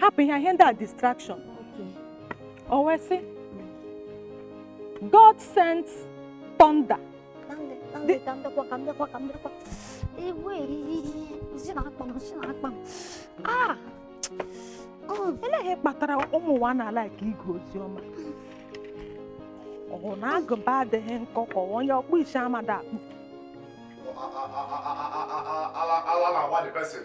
hapụ ihe ihe ndị a distraction o wee sị God send thunder ah! oh. ele ihe kpatara ụmụ ụwa anaghị alaịk ige ozi ọma ọ wụ na agụba adịghị nkọ ka ọ wụ onye ọkpụ isi amada akpụ ala na-agba the person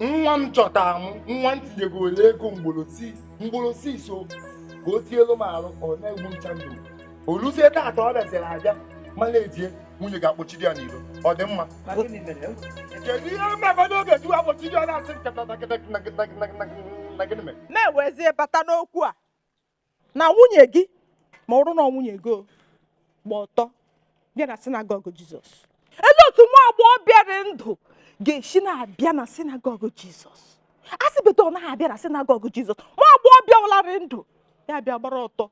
nwa m chọta m nwa m tinyego ole ego mgbolosi so ka o tielu m alụ ọ na-egbu ncha ndụ oluzie taata ọ bịaziri abịa ma na-ejie nwunye gị akpọchiri ya n'iro ọ dị mma kedu ihe mmebedo oge ji akpọchiri ya na-asị nkata na gịnị mere na-ewezie bata n'okwu a na nwunye gị ma ọrụ na nwunye gị gba ọtọ bịa na sinagogu jizọs elee otu nwa agbọghọbịa dị ndụ ga-esi na-abịa na sinagogu jizọs a sị beta ọ naghị abịa na sinagogu jizọs nwa agbọghọbịa wụlarị ndụ ya bịa gbara ọtọ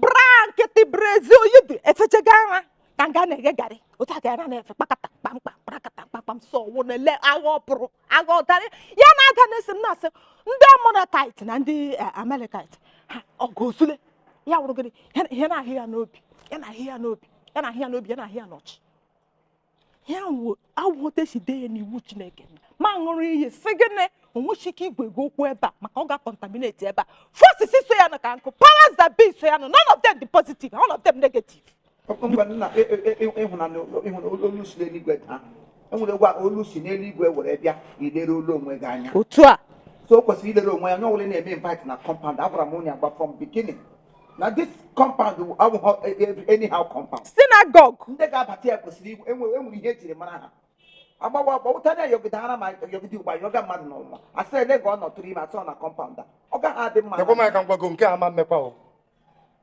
bra nkịtị brazia o yi dị efechega ara ka nga a na-eghe garị otu a ka ya na-efe kpakata kpamkpam kpakata kpamkpam sọ wụ na ele agha ọ pụrụ agha ọ tara ya na-aga na-esi m na-asị ndị amọnakait na ndị eh, amalekait ha ọgụ osule ya wụrụ gịnị Ya na- ya na-ahụ ya n'obi ya na-ahụ ya n'obi ya na-ahụ ya n'obi ya na-ahụ ya n'ọchị ya wụ otu e si dee ya n'iwu chineke ma ṅụrụ iyi sị gịnị o nweghị ike ịgwa gị okwu ebe a maka ọ ga-contaminate ebe a forces so ya nọ ka nkụ powers that be so ya nọ none of them dị positive all of them negative nna e, e, e, ịhụnanya olu si n'eluigwe daa enwere gwa olu si n'eluigwe were bịa ilere olu onwe gị anya otu a so o kwesịrị ilere onwe ya onye ọwụla na-eme invite na compound agwara m onye agba from beginning na this compound abụghị anyhow compound synagogue ndị ga-abata ya kwesịrị inwere ihe e jiri mara ha agbawa agbawụta na yọgide ara ma yọgide ugba yọga mmadụ n'ụwa asị ele ga ọ nọtụrụ ime atọ na compound a ọ gaghị adị mma ekwe m aka ngwago nke a ma mmekwa o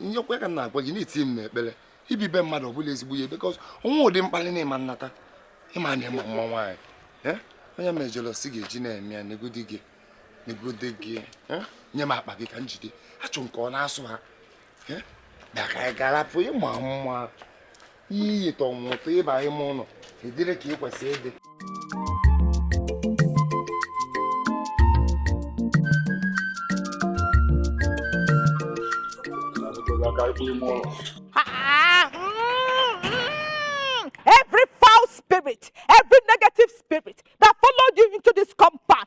ihe okwu ka m na-agwa gị na itinye ekpere ibibi mmadụ ọ bụrọ ezigbo ihe because o nwe ụdị mkpali na ịma nnata ịma na ịma mma nwaanyị eh? onye mejọrọ si ga-eji na-eme ya negodi gị negodi gị eh? nye m akpa gị ka m jide achụ nke ọ na-asụ ha eh? bịa ka anyị gaa rapụ ịma mma ihe iyitọ nwụtụ ịba ime ụlọ ị dịrị ka i kwesịrị ịdị Every foul spirit, every negative spirit that followed you into this compound,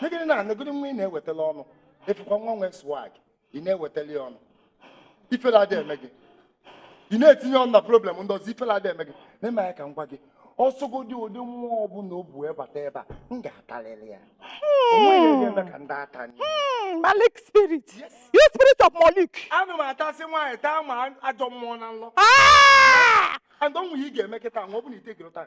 negodu na negodu nwa ị na-ewetala ọnụ ị fụkwa nwa nwee swag ị na-ewetala ọnụ ifele adị eme gị ị na-etinye ọnụ na problem ndị ọzọ ifele adị eme gị na-eme ya ka m gwa gị ọ sọgodu ụdị mmụọ ọbụla o bu wee bata ebe a m ga-atarịrị ya onweghị onye eme ka ndị ata anyị Hmm, Malik spirit. You spirit of Malik. anụ m atasị nwaanyị taa ma ajọ mmụọ n'ụlọ Ah! and onwe ihe ị ga-eme kịta nwa ọ bụla ite gịrị taa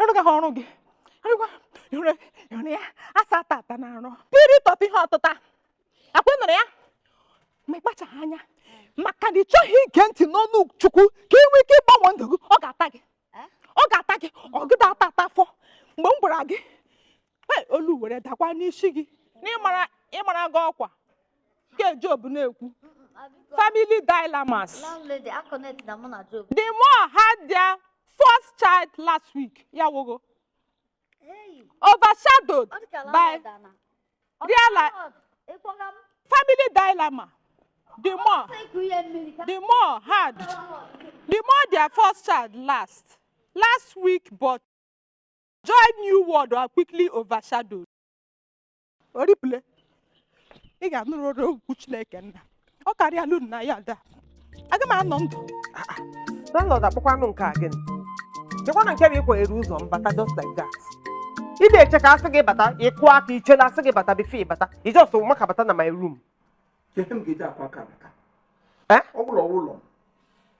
ị rụgaghị ọrụ gị ya asa ata ata na arụ spirit of ihe ọtụta akwa nụrụ ya ma ịkpachaghị anya maka na ị chọghị ige ntị n'ọnụ chukwu ka ị nwee ike ịgbanwe ndụ gị ọ ga-ata gị ọ ga-ata gị ọ gị ata ata afọ mgbe m gwara gị olu were dakwa n'isi gị n'ịmara gị ọkwa nke Job na-ekwu family dilemmas the more had their first child last week ya wogo overshadowed by real life family dilemma the more the more had the more their first child last last week but Joy New World are quickly overshadowed. Oripụle, ị ga-anụrụ ọrụ okwu Chineke nna. Ọ karịa lụrụ na ya ada. Aga m anọ ndụ. Landlord akpọkwanụ nke a gịnị? Chekwa na nke bụ ịkwa eru ụzọ m bata just like that. Ị na-eche ka asị gị bata, ịkụ aka iche na asị gị bata bifo ịbata. Ị just maka bata na my room. ihe m ga-eji akụ aka maka Eh? ọ bụla ụlọ m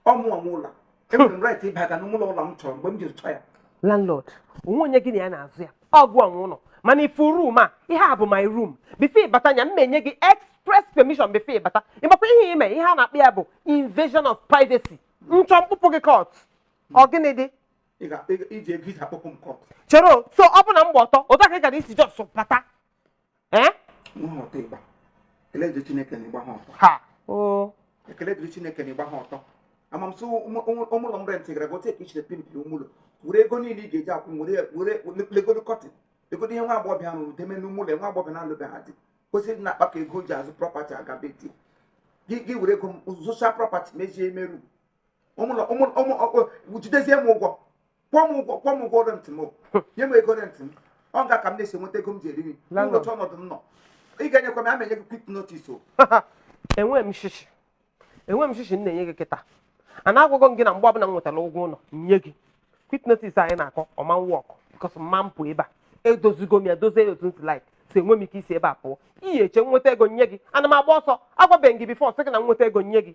ọ mụ nwe ụlọ enwere m right ịbaga n'ụlọ ụlọ m chọrọ mgbe m jiri chọọ ya landlord onwe onye gị na ya na-azọ ya ọ gị nwe ụlọ mana ifu room a ihe a bụ my room before ịbata ya m enye gị express permission before ịbata ịmakwa ihe ime ihe a na-akpọ ya bụ invasion of privacy m chọọ m kpụpụ gị court ọ gịnị dị Ị ga- ị ga- iji ego iji akpụpụ m kọt chere o, so ọ bụ na m gba ọtọ otu a ka ị gara isi jos bata eh? ha o ekele dịrị chineke na ị gbaha ọtọ a ma m sị ime ụlọ m rentị gara gote ka isiri pimp ime ụlọ were ego niile ị ga-eji akwụ were legodu kọtịn legodu ihe nwa agbọghọbịa ahụ deme n'ime ụlọ nwa agbọghọ na-alụbeghị di kwesịrị na-akpakọ ego ji azụ prọpati aga be di gị were ego zụcha prọpati mezie ime room jidezie m ụgwọ kwụọ m ụgwọ kwụọ m ụgwọ rent m nye m ego rent m ọ ya ka m na-esi enweta ego m ji eri nri n'ụdị ọnọdụ m nọ ị ga-enyekwa m ama enye gị kwit notis o enweghị m shishi enweghị m shishi m na-enye gị kịta and agwago m gị na mgbe ọbụla m nwetara ụgwọ ụlọ nye gị kwit notis a ị na-akọ ọ ma wọk bikọs m ma pụ ebe a edozigo m ya dozie ya otu m si laik so enwe m ike isi ebe a pụọ ị ya-eche m nweta ego nye gị ana m agba ọsọ agwabeghị gị bifọ sị gị na m nweta ego nye gị